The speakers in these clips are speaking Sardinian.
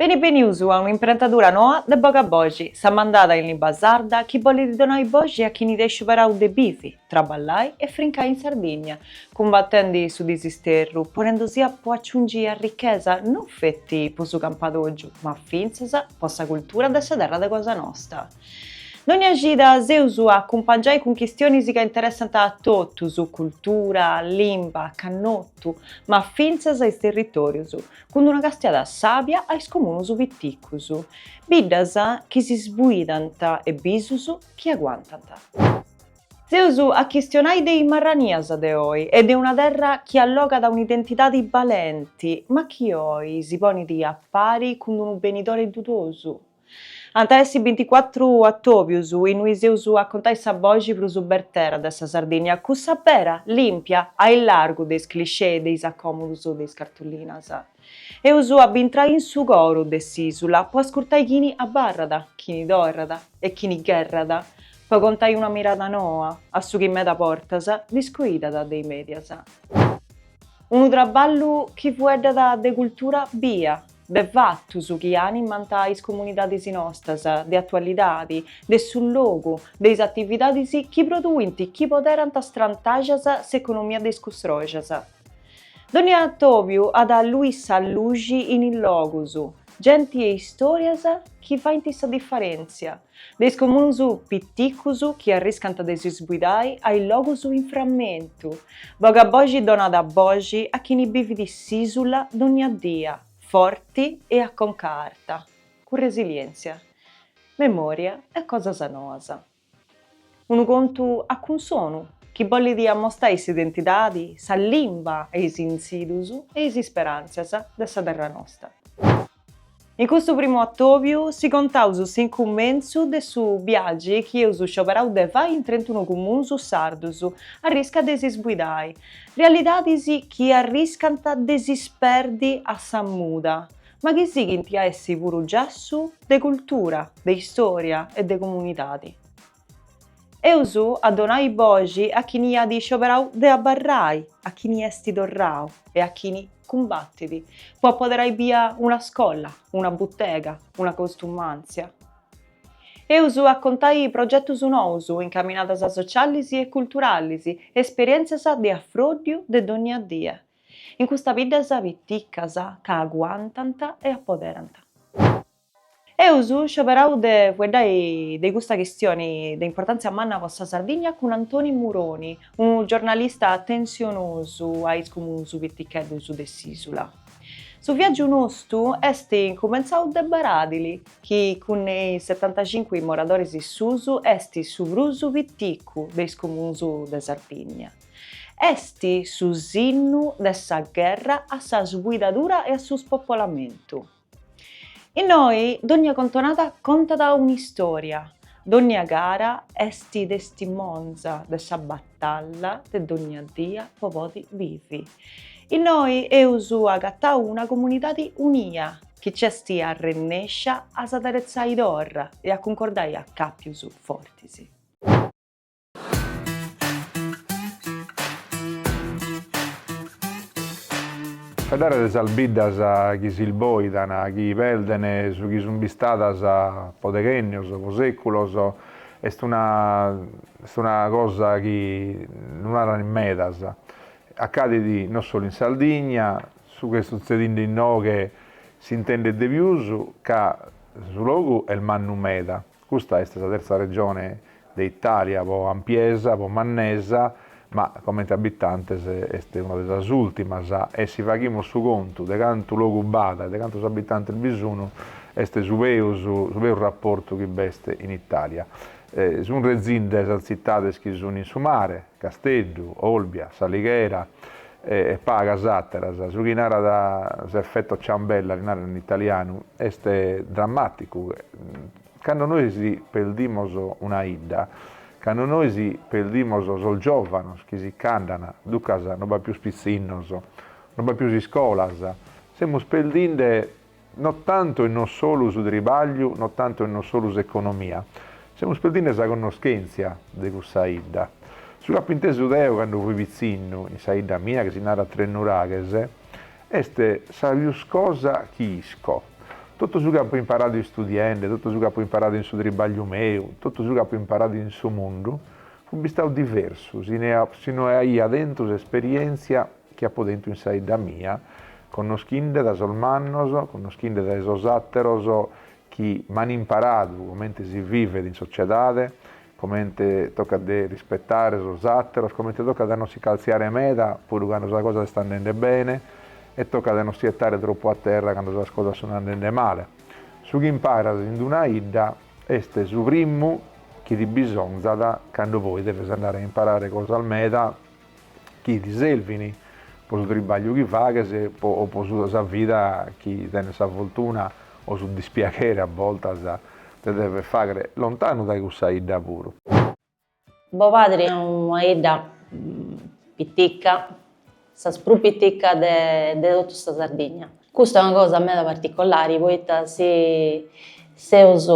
Beni benius a un'imprentadura noa de Boga Boxi, sa mandada in limba sarda chi bolit donai boxi a chini at scioberau de bivi, traballai e frincai in Sardinnia, cumbatendi su disisterru, ponendusia po aciungi arrichesa non feti po su campadoggiu, ma fintzas po sa cultura de sa terra de cosa nosta. Dogna cida s'eus a acumpangiai cun chistionis ca interessant a totus, cultura, limba, cannotu, ma fintzas is territorius, cun una castiada sàbia a is comunus piticus, biddas chi si sbuidant e bisus chi aguantant. Eus a chistionai de is marranias de oi e de una terra chi allogat un'identidadi balenti, ma chi oi si ponit a pari cun d-unu benidori dudosu. Ant a essi binticuatru atòbius inui s'eus a contai sa boxi prus bertera de sa Sardìnnia, cussa bera, lìmpia, a illargu de is cliché e de is acòmodus de is cartullinas. Eus a bintrai in su coru de s'ìsula po ascurtai chini abarrat, chini torrat e chini gherrat po contai una mirada noa a su chi meda bortas discoidat de is mèdias. Unu traballu chi fueddat de cultura bia, de fatus chi animant is comunidadis nostras de atualidadi, de su logu, de is atividadis chi produint chi poderant strantaxas s'economia de is custroxas. Dònnia atobiu at a allui sa luxi in is logus, genti e istorias chi faint sa diferèntzia. De is comuns piticus chi arriscant de si sbuidai a is logus in frammentu, Boga Boxi donat boxi a chini bivit s'isula dogna dia forti e a conca arta, cun resilientzia, memoria e cosas noas. Unu contu a cunsonu chi bollit amostai s'identidadi, sa limba e is intzidius e is isperantzias de sa terra nosta. In custu primu atòbiu si contaus s'incumentzu de su biagi chi eus scioberau de fai in trentunu cumunus sardus a arriscu de si sbuidai, realidadis chi arriscant de si sperdi a sa muda, ma chi sighint a essi puru giassu de cultura, de istòria e de comunidadi. Eus a donai boxi a chini at scioberau de abarrai, a chini esti torrau e a chini cumbatit po apoderai bia una scola, una butega, una costumantzia. Eus a contai progetus nous, incaminadas socialis e culturalis, esperientzias de afròddiu de dònnia die, in custa biddas piticas ca aguantant e apoderant. Eus scioberau de fueddai de custa chistioni de importàntzia manna po sa Sardigna cun Antoni Muroni, unu giornalista atensionosu a is comuns piticheddus de s'ìsula. Su viàgiu nostu est incumentzau de Baradili, chi cun is setantacincu moradoris suus est su prus piticu de is comuns de Sardigna. Est su sinnu de sa gherra a sa sbuidadura e a su spopolamentu. Innoi dònnia contonada contat un'istòria, dònnia cara est testimonza de sa batalla de dònnia dia po podi bivi. Innoi eus agatau una comunidadi unia chi nc'est arrennèscia a s'ateretzai torra e a cuncordai acàpius fortis. Faeddare de sas biddas chi si isboidan, chi perden su chi sun bistadas po deghennios, po seculos, est una est una cosa chi no naran in medas. Acadit no solu in Sardigna, su chi est sutzedinde inoghe s'intendet de pius ca su logu est mannu meda. Custa est sa terza regione de Itàlia pro ampiesa, pro mannesa, ma comente abitantes est una de sas ùrtimas e si faghimus su contu de cantu logu b'at e de cantos abitantes bi sun, est su peus su peus raportu chi b'est in Itàlia. Sun rezinde sas tzitades chi sun in su mare. Casteddu, Olbia, S'Alighera e pagas àteras. Su chi narat s'effetto ciambella, si narat in italianu, est drammàticu. Cando nois perdimos una 'idda, cando nois perdimos sos giòvanos chi si ch'andant, duncas no b'at pius pitzinnos, no b'at pius iscolas, semus perdinde No tantu e no solu su tribagliu, no tantu e no solu s'economia. Semus perdinde sa connoschentzia de cussa 'idda. Su chi apo intesu deo cando fui pitzinnu, in sa 'idda mia chi si narat Tresnuraghes, est sa pius cosa chi isco. Totu su chi apo imparadu istudiende, totu su chi apo imparadu in su tribagliu meu, totu su chi apo imparadu in su mundu, fut bistau diversu si no aia tentu s'esperientzia, chi apo tentu in sa 'idda mia, connoschinde dae sos mannos, connoschinde dae sos àteros chi m'an imparadu comente si vivet in sociedade, comente tocat de rispetare sos àteros, comente tocat a non si caltziare meda puru cando sa cosa est andende bene e tocat a non si 'ettare tropu a terra cando sas cosas sun andende male. Su chi imparas in d-una 'idda est su primu chi ti bisonzat cando poi deves andare a imparare cosas meda chi ti servin po su tribagliu chi faghes o po sa vida chi tenes sa fortuna o su dispiaghere a bortas de dever faghere lontanu dae cussa 'idda puru. Bopadre una 'idda pitica, sas prus piticas de totu sa Sardigna. Custa è una cosa meda particolari poita si seus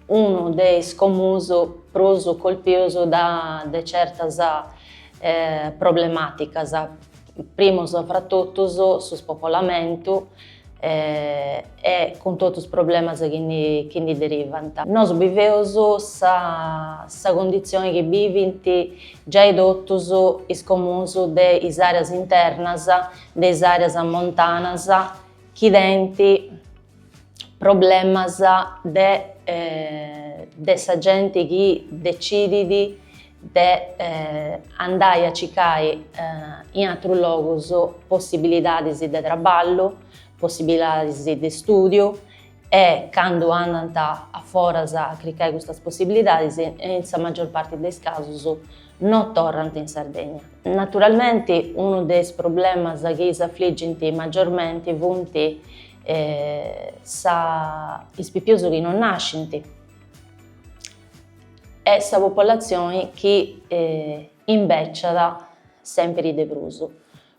unu de is comuns prus colpius de certas problematicas, primus fra totus su spopolamentu e cun totu is problemas chi chi ndi derivant. Nosu biveus sa cundizioni chi bivint giai totus is comuns de is areas internas de is àreas montanas chi tenint problemas de de sa genti chi decidit de andai a circai in aterus logus possibilidadis de traballu, possibilidadis de stùdiu e candu andant a foras a cricai custas possibilidadis, in sa magior parti de is casus, no torrant in Sardegna. Naturalmenti unu de is problemas chi s'afligint magiormenti funt sa is pipius chi no nascint e sa populatzioni chi imbeciat sèmpiri de prus.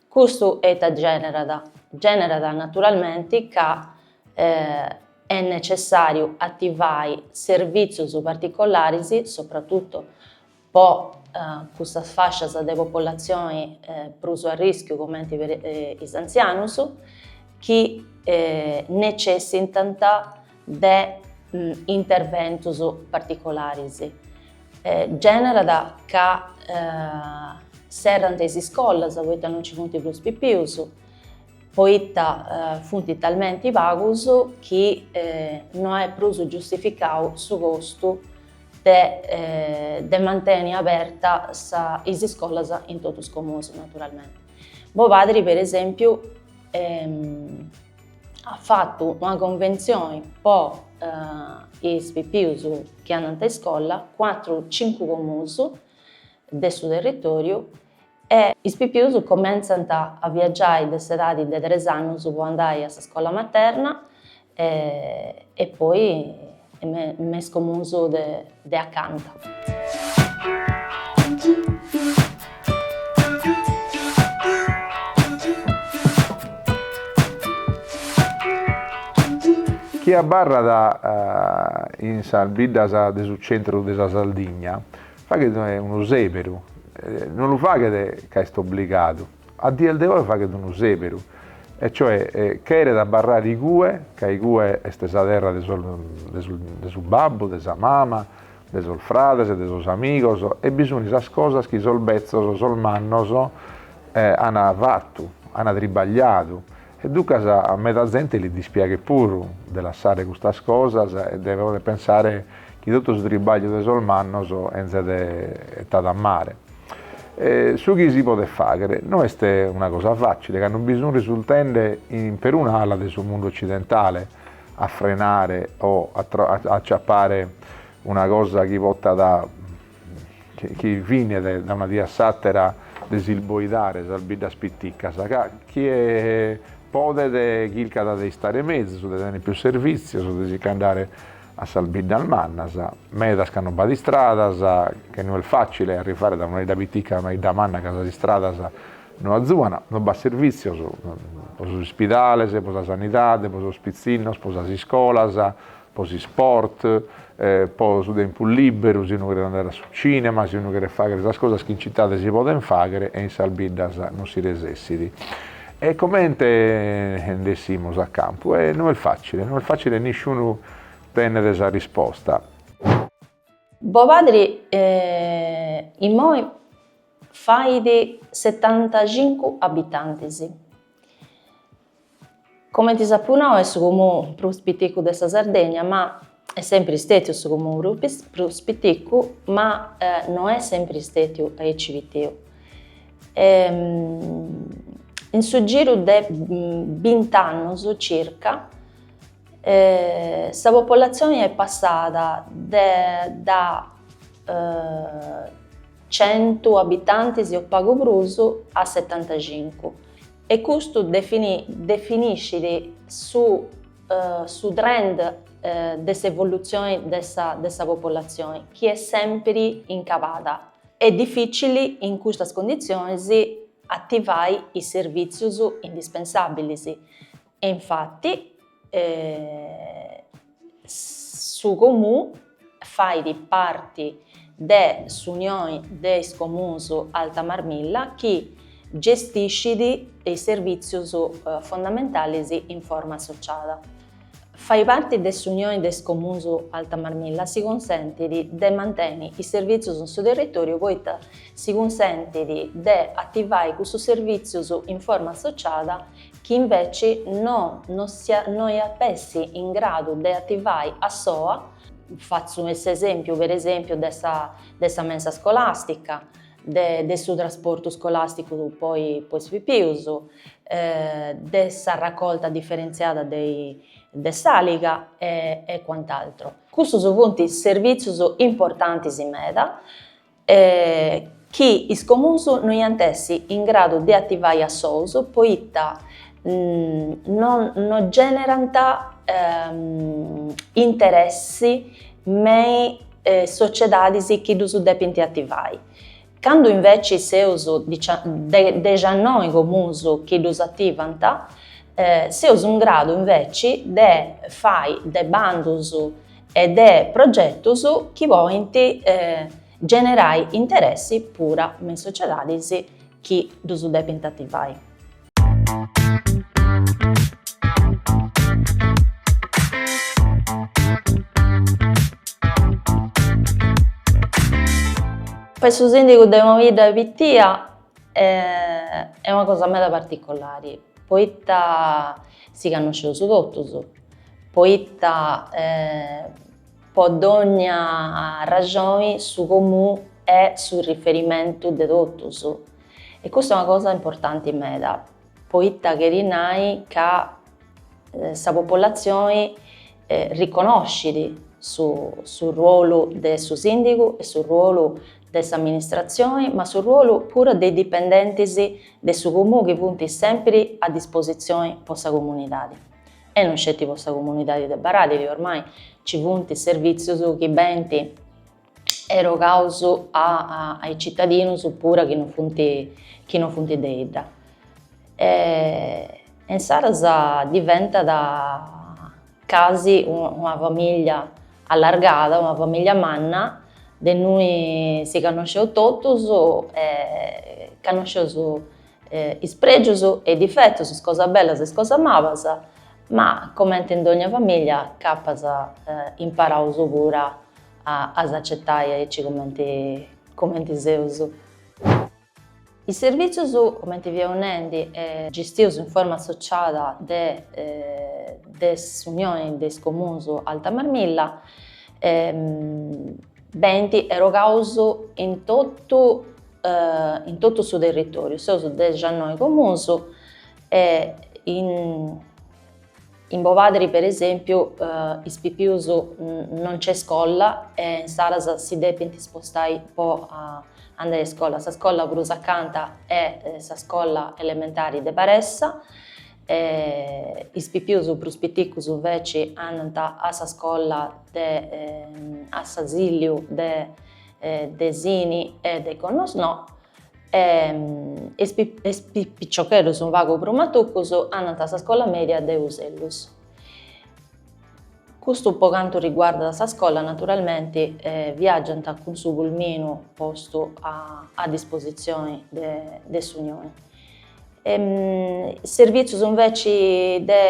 Custu ita generat? Generat naturalmenti ca est necessàriu ativai servìtzius particolaris, sopratutu po cussas fascias de populatzioni prus a rìschiu cumenti is antzianus chi necessitant de interventus particolaris, generat ca serrant is iscolas poita non nci funt prus pipius, poita funt talmenti pagus chi no est prus giustificau su costu de de manteni abertas is iscolas in totu is comunis naturalmenti. Bopadri per esempiu at fatu una conventzioni po is pipius chi andant a iscola, cuatru cincu comuns de su territòriu e is pipius comentzant a viagiai de s'edadi de tres annus po andai a s'iscola materna e poi E me is comunus de de acanta. Chie abarrat in sas biddas de su centru de sa Sardigna faghet unu sèberu, non lu faghet ca est obligadu. A dies de oe faghet unu sèberu, e cioè cheret abarrare igue, ca igue est sa terra de sos de su de su babbu, de sa mama, de sos frades e de sos amigos, e bi sunt sas cosas chi sos betzos, sos mannos, an fatu, an tribagliadu, E duncas a meda zente li dispiaghet puru de lassare custas cosas e de pòdere pensare chi totu su tribagliu de sos mannos enzet etadu a mare. Su chi si podet fàghere no est una cosa fàcile, ca no bi sun risultende in peruna ala de su mundu otzidentale a frenare o a a acciappare una cosa chi potat chi finet dae una die a s'àtera de si sboidare sas biddas piticas, ca chie podet chircat de istare mezus, de tènnere pius servìtzios, de si che andare a sas biddas mannas, medas ca non b'at istradas, che no est fàcile arrivare dae una 'idda pitica a una 'idda manna ca sas istradas no azuan, no b'at servìtzios pro sos ispidales, pro sa sanidade, pro sos pitzinnos, pro sas iscolas, po s'isport, po su tempus lìberu, si unu cheret andare a su tzìnema, si unu cheret fàghere sas cosas chi in citade si podent fàghere e in sas biddas non si resessit. E comente nd'essimus a campu? E no est fàcile, no est fàcile e nisciunu tenet sa risposta. Bobadri imoi fait setantacincu abitantis. Comenti s'apu nau est su comunu prus piticu de sa Sardegna ma est sempiri stetiu su comunu prus piticu ma no est sempiri stetiu aici pitiu. In su giru de bint'annus circa sa populatzioni est passada de da centu abitantis o pagu prus a setantacincu E custu definiscit su trend de s'evolutzioni de sa populatzioni chi est sèmpiri in cabada. Est dificili in custas conditzionis ativai is servìtzius indispensàbilis E infati su Comú fait parti de s'Unioni de is Comuns Alta Marmilla chi gestiscit is servìtzius fondamentalis in forma associada. Fai parti de s'Unioni de is Comuns Alta Marmilla si cunsentit de manteni is servìtzius in su territòriu poita si cunsentit de ativai cussus servìtzius in forma associada, chi inveci no no iat essi in gradu de ativai a soa, fatzu s'esempiu per esempiu de sa de sa mensa scolàstica, de de su trasportu scolàsticu po i po is pipius, de s'arracolta diferentziada de i de s'àliga e e cuant'altro. Cussus funt servìtzius importantis meda e chi is comuns no iant essi in gradu de ativai a sous poita no no generant interessi me is sociedadis chi ddus depint ativai. Candu inveci seus dexannoi comuns chi ddus ativant, seus in gradu inveci de fai de bandus e de progetus chi podint generai interessi pura me is sociedadis chi ddus depint ativai. Fai su sìndigu de una bidda pitia est una cosa meda particolari poita si cannosceus totus poita po dònnia arraxoni su comú est su riferimentu de totus e custa est una cosa importanti meda poita cherit nai ca sa populatzioni riconoscit su su ruolu de su sìndigu e su ruolu de s'amministratzioni ma su ruolu puru de is dipendentis de su comú chi funt sèmpiri a dispositzioni po sa comunidadi. E non sceti po sa comunidadi de Baradili, ormai ci funt servìtzius chi benint erogaus a a is citadinus pura chi non funt chi non funt de idda. E e insaras diventat casi una famìllia allargada, una famìllia manna, de innui si cannosceus totus e cannosceus Is prègius e is difetus, is cosas bellas e is cosas malas, ma comenti in dogna famìllia nc'apas imparau puru a s'acetai aici cumenti cumenti seus. Is servìtzius cumenti fiaus nendi gistius in forma associada de de s'Unioni de is Comuns Alta Marmilla benint erogaus in totu in totu su territòriu seus dexannoi comuns e in in Bobadri per esèmpiu is pipius non nc'est iscola e insaras si depint spostai po andai a iscola, sa scola prus acanta est sa scola elementari de Baressa e is pipius prus piticus inveci andant a sa scola de a s'asìlliu de de Sini e de Gonnosnò, e is piciocheddus unu pagu prus matuccus andant a sa scola media de Usellus. Custu po cantu riguardat sa scola naturalmenti viaggiant cun su pulminu postu a dispositzioni de s'Unioni. Is servìtzios inveci de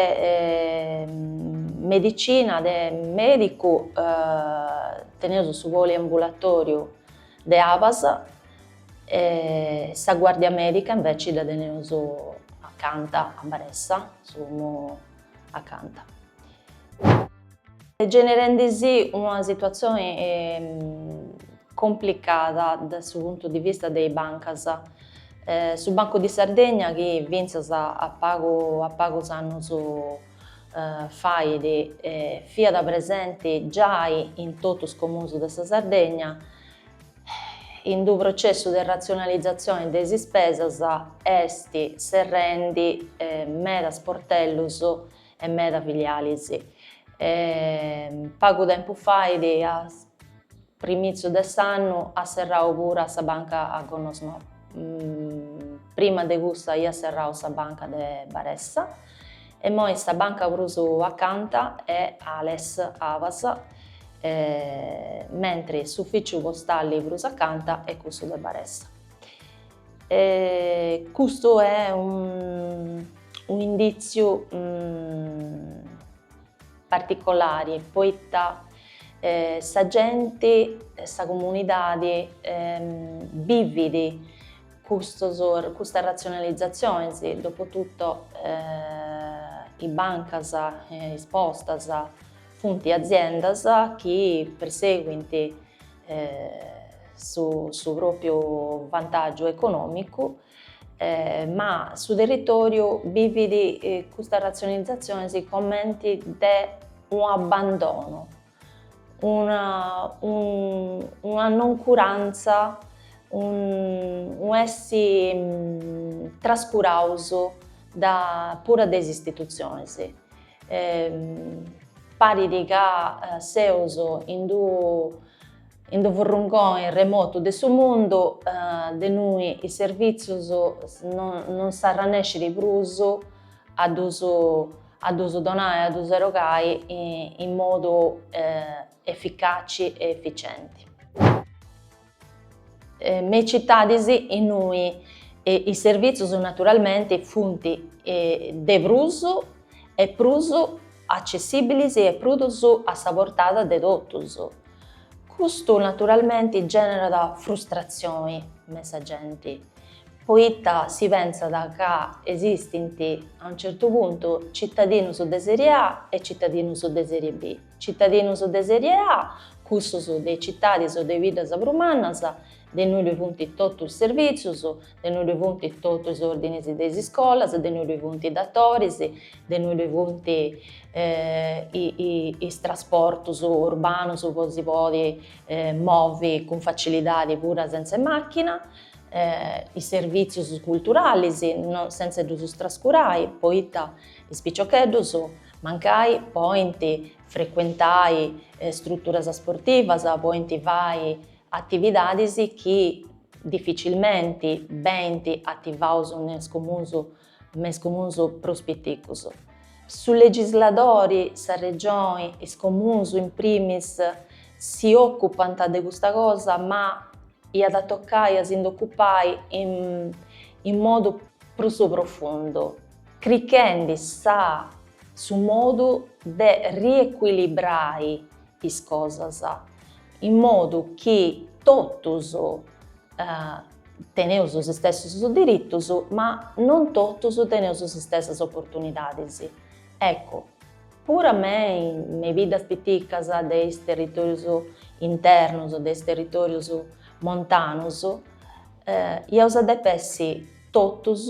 medicina, de mèdicu, teneus su poliambulatoriu de Abas, sa guardia mèdica inveci dda teneus acanta a Baressa, su domu s'est ingenerendi una situazioni complicada de su puntu di vista de is bancas. Su Bancu di Sardegna chi fintzas a pagu a pagus annus fait fiat presenti giai in totus is comuns de sa Sardegna, in d'u processu de ratzionalizatzione de is ispesas est serrendi meda sportellus e meda filialis. Pagu tempus fait, a primitzius de s'annu, at serrau puru sa banca a Gonnosnò, prima de cussa iat serrau sa banca de Baressa, E immoi sa banca prus acanta est Ales, Abas, mentri s'ufficiu postali prus acanta est cussu de Baressa. Custu è un'inditziu particolari poita sa genti, sa comunidadi bividi Custos, custas ratzionalizatziones, dopo tutto, is bancas, is postas, funt aziendas chi persèguint su su pròpiu vantàgiu econòmicu, ma su territòriu bivit custas ratzionalizatziones cumenti de un'abandonu una una noncuranza, unu essi trascuraus da puru de is istitutzionis. Parit ca seus in d'unu in d'unu furrungoni remotu de su mundu de innui is servìtzius non s'arrannescit prus a ddus a ddus donai e a ddus erogai in modu eficaci e eficienti. Me is citadis innui is servìtzius naturalmenti funt de prus e prus accessìbilis e prus a sa portada de totus. Custu naturalmenti gènerat frustratzioni me sa genti, poita si pentzat ca esistint, a unu certu puntu, citadinus de serie A e citadinus de serie B. Citadinus de serie A, cussus de is citadis o de is biddas prus mannas, de innui ddoi funt totus is servìtzius, de innui ddoi funt totus is ordinis de is iscolas, de innui ddoi funt is dotoris, de innui ddoi funt is trasportus urbanus po si podi movi cun facilidadi puru senz'e màchina. is servìtzius culturalis senz'e ddus trascurai poita is piciocheddus mancai podint frecuentai struturas sportivas, podint fai atividadis chi dificilmenti benint ativaus me is comuns me is comuns prus piticus. Su legisladori, sa Regioni, is comuns in primis si ocupant de custa cosa ma iat a tocai a si nd'ocupai in modu prus profundu, crichendi su modu de riecuilibrai is cosas, in modu chi totus teneus is istessus diritus, ma non totus teneus is istessas oportunidadis. Eccu, puru me, me is biddas piticas de is territorius internus, de is territorius montanus, iaus a depi essi totus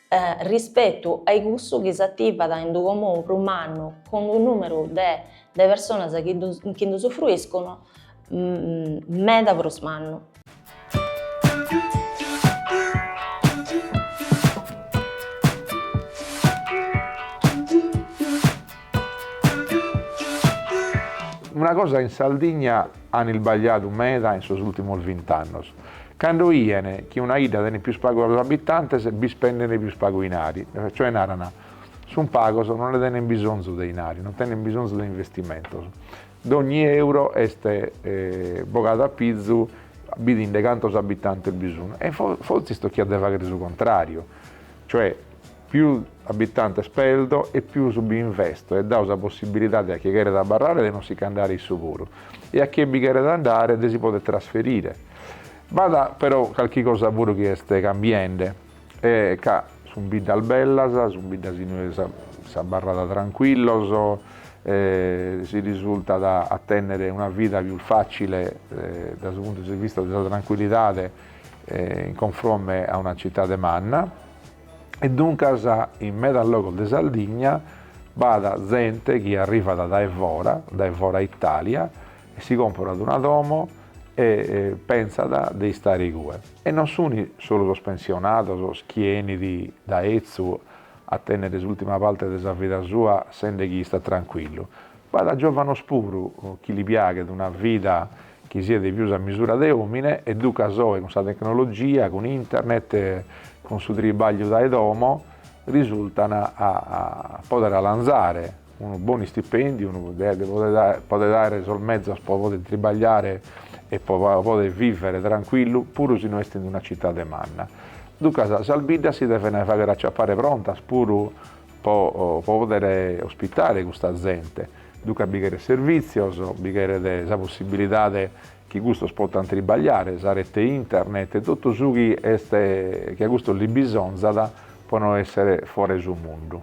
rispetu ai cussu chi s'ativat ind unu comunu prus mannu cund unu numeru de de personas chi ddu chi nd'usufruiscunu meda prus mannu. Una cosa in Sardigna an isbagliadu meda in sos ultimos vint'annos, Cando 'ien chi una 'idda tenet pius pagos abitantes bi spendent pius pagu inari, cioè naran, sun pagos non nde tenent bisonzu de inari, non tenent bisonzu de investimentos, dogni euro est bogadu a pizu bidinde cantos abitantes bi sun e fortzis tochiat de fagher su contrariu, cioè Pius abitantes perdes e pius bi investis e das sa possibilidade a chie cheret abarrare de non si ch'andare issu puru e a chie bi cheret andare de si poder trasferire. B'at però calchi cosa puru chi est cambiende e ca sun biddas bellas, sun biddas inue s'abarrat trancuillos e si risultat a tenner una vida pius facile dae su puntu de vista de sa trancuillidade in confronte a una citade manna. e duncas in medas logos de Sardigna b'at zente chi arrivat dae fora, dae fora Itàlia, e si comporat una domo e pentzat de istare igue. E non sunt solu sos pensionados chi 'enit dae etzu a tènnere s'ùrtima parte de sa vida sua sende chi istat trancuillu, B'at giòvanos puru chi li piaghet una vida chi siat de pius a misura de òmine e ducas oe cun sa tecnologia, cun internet, cun su tribàgliu dae domo, risultan a pòdere alanzare unu bonu istipèndiu, a pòdere àere sos mezos pro pòdere tribagliare e pro pòdere vìvere trancuillu puru si no est in una citade manna. Ducas sas biddas si devent fàghere aciapare prontas puru Po poder ospitare custa zente, duncas bi cheret servìtzios, bi cheret sa possibilidade chi custos potant tribagliare, sa rete internet e totu su chi est chi a custos li bisonzat po no essere fora 'e su mundu.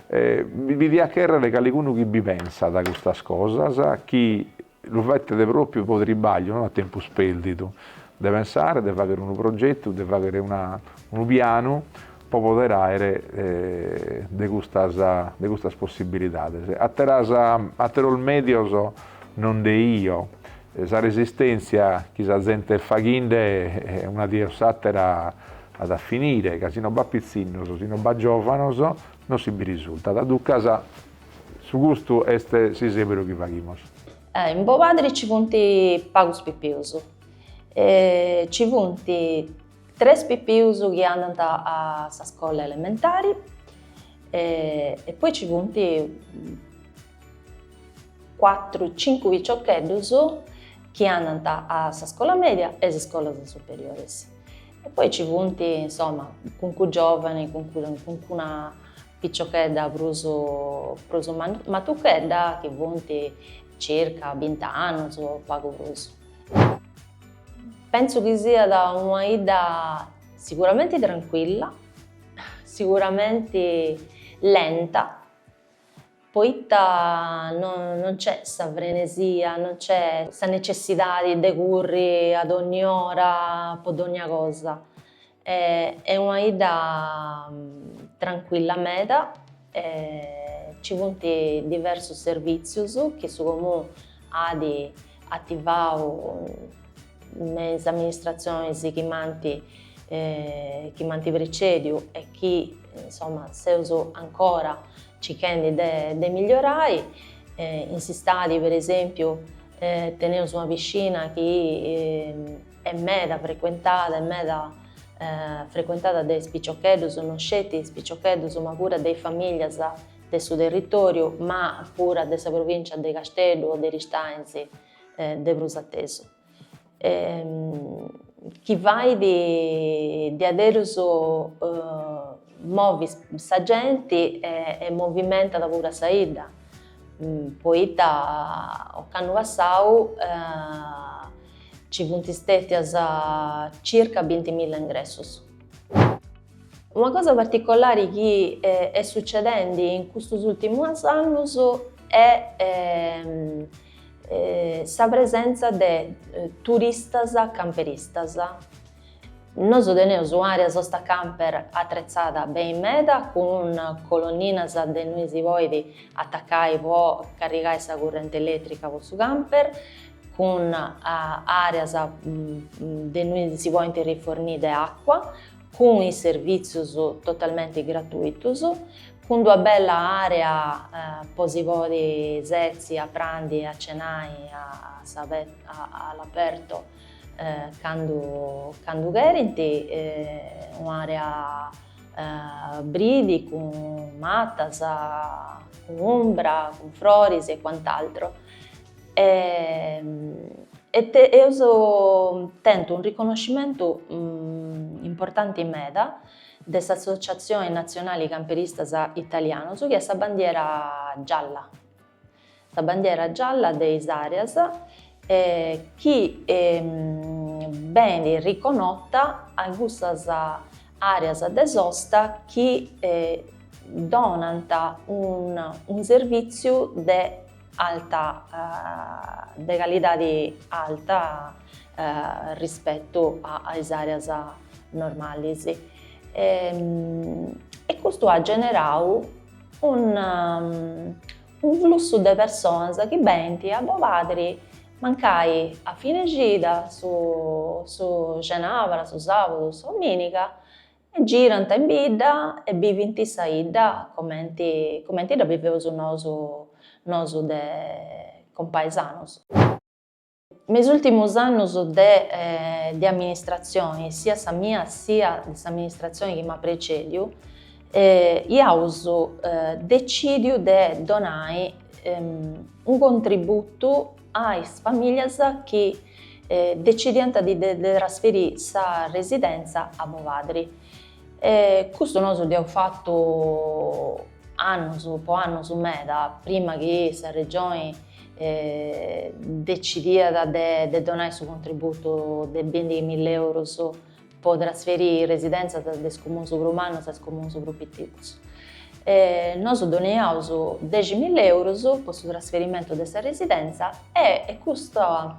Bi diat chèrrere calicunu chi bi penset custas cosas, chi Lu fetat pròpiu pro tribàgliu, no a tempus pèrdidu, de pensare, de fàghere unu progetu, de fàghere una unu pianu pro poder àere de custas de custas possibilidades. Àteras, àteros mèdios non nde 'io, sa resistèntzia chi sa zente est faghende una die o s'àtera at a finire, ca si non b'at pitzinnos, si non b'at giòvanos, non si bi risultat, duncas Su custu est s'isèberu chi faghimus. In Bobadri ci funt pagus pipius. Ci funt tres pipius chi andant a sa scola elementari e poi ci funt cuatru cincu piciocheddus chi andant a sa scola media e a is scolas superioris. E poi ci funt, insoma, cuncunu giovani, cuncuna Piciochedda prus prus matuchedda chi funt circa bint'annus o pagu prus. Pensu chi siat una 'idda siguramenti trancuilla, siguramenti lenta, poita non nc'est sa frenesia, non nc'est sa necessidadi de curri a dogni ora po dogna cosa Est una 'idda trancuilla meda, ci funt diversus servìtzius chi su Comunu at ativau me is amministratzionis chi m'ant chi m'ant precèdiu e chi insoma seus ancora circhendi de de migliorai. In s'istadi per esèmpiu teneus una piscina chi est meda frecuentada, est meda frecuentada de is piciocheddus, no sceti is piciocheddus ma pura de is famìllias de su territòriu, ma pura de sa provìncia de Casteddu o de Aristanis de prus a tesu. Chi fait diaderus movi sa genti e movimentat puru a sa 'idda, poita ocannu passau Ci funt stètias circa bintimilla ingressus. Una cosa particolari chi est sucedendi in custus ùrtimus annus est sa presentza de turistas camperistas, Nosu teneus un'àrea sosta camper atretzada beni meda cun colonninas de innui si podit atacai po carrigai sa currenti elètrica po su camper, cun àreas de innui si podint rifornì de acua, cun is servìtzius totalmenti gratuitus, cun d'una bella àrea po si podi setzi a prandi e a cenai a s'abertu candu candu cherint un'area bridi cun matas cun umbra cun froris e cuant'altro e e eus tentu unu riconoscimentu importanti meda de s'associatzioni natzionali camperistas italianos chi est sa bandiera gialla Sa bandiera gialla de is àreas chi benit riconota a cussas àreas de sosta chi donant unu servìtziu de alta de calidadi alta rispetu a is àreas normalis e custu at generau Un, un flussu de personas chi benint a Bobadri mancai a fine cida, su, su xenabra, su sabudu, s'ominiga, e girant in bidda e bivint sa 'idda comenti, comenti dda biveus nosu, nosu de compaesanus. Me is ùrtimus annus de de amministratzioni, siat sa mia siat de s'amministratzioni chi m'at precèdiu, iaus decìdiu de donai unu contributu a is famìlias chi decidiant de trasferì sa residentza a Bobadri. E custu nosu dd'iaus fatu annus, po annus meda, prima chi sa Regioni decidiat de donai su contributu de bindighi milla eurus po trasferiri is residentzas de is comuns prus mannus a is comuns prus piticus. Nosu doniaus dexi milla eurus po su trasferimentu de sa residentza e custa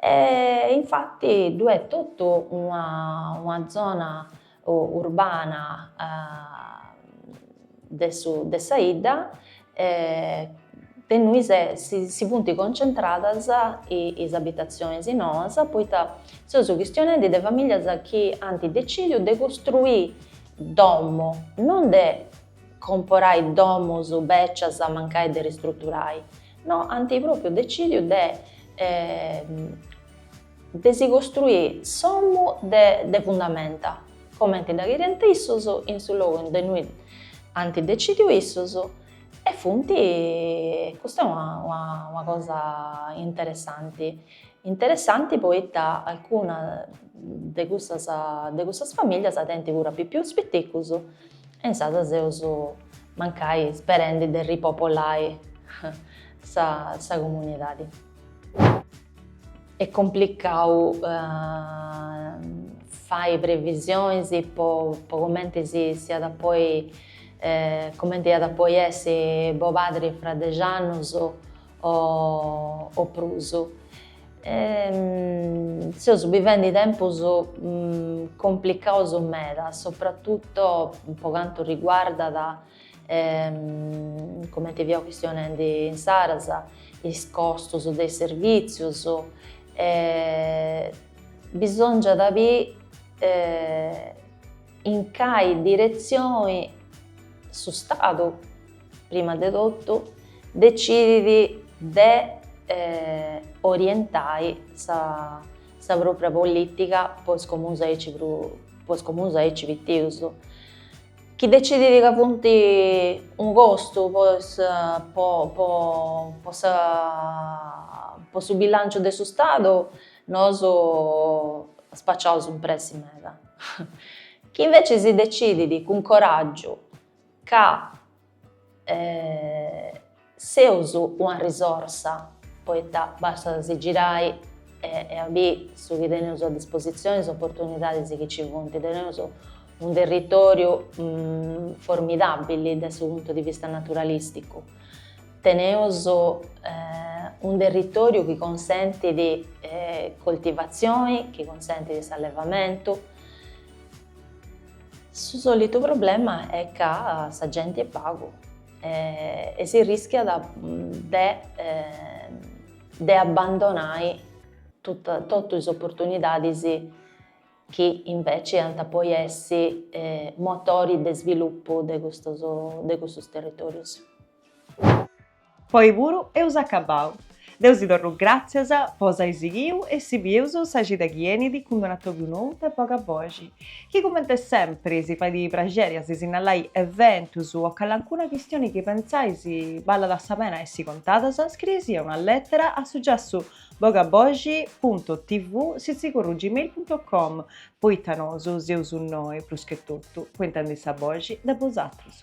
E infatti ddu est totu una una zona urbana de su de sa 'idda de innui si funt concentradas is abitatzionis noas poita seus chistionendi de familias chi ant decìdiu de costruì domo, non de comporai domus bècias mancai de ristruturai No, ant pròpiu decìdiu de de si costruiri s'omu de de fundamenta, comenti dda cheriant issus, in su logu in de nui ant decìdiu issus e funt, custa est una una una cosa interessanti, interessanti poita alcuna de cussas de cussas famìllias tenint puru a pipius piticus E insaras seus mancai sperendi de ripopolai sa comunidadi. Est complicau fai previsionis po cumenti si iat a poi, cumenti iat a poi essi Bobadri fra dexi annus o prus. Seus bivendi tempus complicaus meda, sopratutu po cantu riguardat, cumenti fiaus chistionendi insaras, is costus de is servìtzius. Bisòngiat biri in cali diretzioni su Stadu prima de totu, decidit de orientai sa pròpria polìtica po is comunus aici prus, po is comunus aici pitius, chi decidit ca funt unu costu po is po po po sa po su bilanciu de su Stadu, nosu spaciaus in pressi meda. Chi inveci si decidit cun coràgiu ca seus una risorsa poita bastat a si girai e a biri su chi teneus a dispositzioni, is oportunidadis chi nci funt. Teneus unu territòriu formidabili de su puntu di vista naturalisticu, teneus unu territòriu chi consentit coltivatzioni, chi consentit s'allevamentu Su solitu problema est ca sa genti est pagu e si rischiat de de abbandonai totu is oportunidadis chi inveci iant a poi essi motori de svilupu de custus de custus territorius. Po oi puru eus acabau. Deu si torru gràtzias po s'ai sighiu e si bieus sa cida chi enit cun d-un'atòbiu nou de Boga Boxi, chi comente sempri si fait praxeri a si sinnalai eventus o calancuna chistioni chi pentzais ballat sa pena essi contadas, scriei-sì una lètera a su giassu bogaboxi punto tv sitzigorru gmail punto com poita nosu seus innoi, prus che totu, po intendi sa boxi de bosatrus.